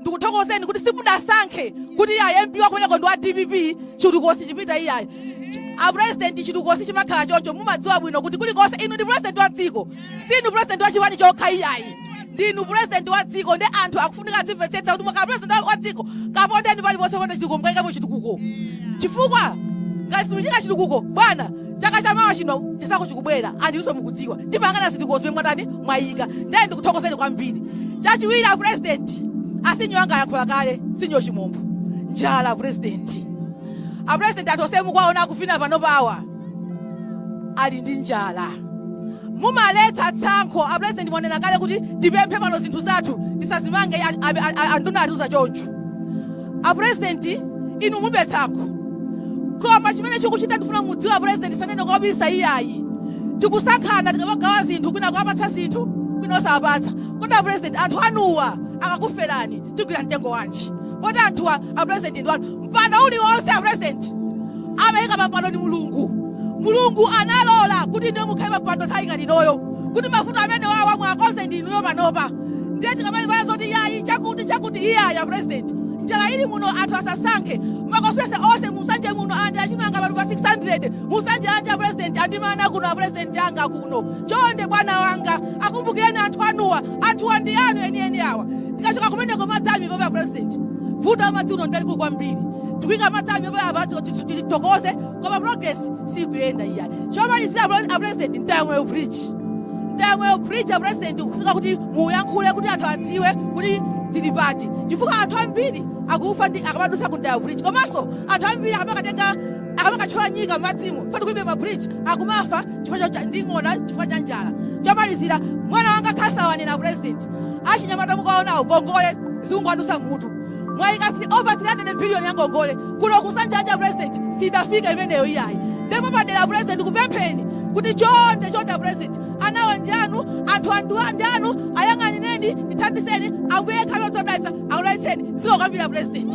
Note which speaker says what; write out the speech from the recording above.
Speaker 1: ndikuthokozeni kuti simudasankhe kuti iyayi mp wakumeneko ndi wa dpp chitukuko sichipita iyayi apresidenti chitukuko sichimakhala choncho mumadziwa bwino kuti kulikonse inu ndi presidenti wa dziko sinu presidenti wa chipani chokha iyayi ndinu presidenti wa dziko ndi anthu akufunika azimvetsetsa kuti mwakhala presidenti wa dziko kapondeni paliponse ponse chitukuko mukaikepo chitukuko chifukwa ngati simuika chitukuko bwana chaka cha mawa chino chisankho chikubwera anthunso mukudziwa timayang'ana zitukuko zomwe mwatani mwayika ndiye ndikuthokozeni kwambiri chachiwiri a president asinyo anga ayankhula kale sinyo chimombo njala president a president anthu onse mukuwaona akuvina panopawa ali ndi njala mumaletsa tsankho a president mwanena kale kuti tipemphe pano zinthu zathu tisazimange anduna atiuza choncho a president inu mulibe tsankho koma chimene chikuchitika ndifuna mudziwe a president sanene kobisa iyayi tikusankhana tikamagawa zinthu kwina kuwapatsa zinthu kwina osawapatsa kodi a president anthu anuwa akakuferani tigwira mtengo wanji poti anthuwa a president ndi anu mpando uliwonse a president amayika pampando ndi mulungu mulungu analola kuti inuyo mukhale pampando nthawi ngati inoyo kuti mavuto amene awawa muwakonze ndi inuyo panopa Ndiye tikamalimbana zoti yayi chakuti chakuti iyayi a president njala ili muno anthu asasankhe ma constituency onse mu nsanje muno alandira chimanga pano pa 600 mu nsanje lalanje a president andimana kuno a president anga kuno chonde bwana wanga akumbukireni anthu anuwa anthuwa ndi anu enieni awa tikachoka kumeneko madzi akumwa a president vuto la madzi kuno lilipo kwambiri tikuika madzi akumwa apa tithokoze koma progress sikuyenda iyayi chomalizira a president mtayamoyo bridge mtayamoyo bridge a president kufunika kuti muyankhule kuti anthu adziwe kuti tili pati chifukwa anthu ambiri akufa ndi akamadutsa ku mtayamoyo bridge komanso anthu ambiri akamakatenga akamakatchola nyika m'madzimo poti kulibe ma bridge akumafa chifukwa cha- cha ndi ng'ona chifukwa cha njala chomalizira bwana wanga khasawanena president achinyamata mukuwaonawo ngongole zikungowadutsa mmutu Mwaika si over 300 billion yangongole kuno ku nsanje lalanje a president siidafike imeneyo iyayi nde mwapadera apresident ndikupempheni kuti chonde chonde apresident anawa ndi anu anthu anuwa ndi anu ayang'anireni ndithandizeni ambuye yekha wodziwa kudalitsa akudalitseni zikomo kwambiri apresident.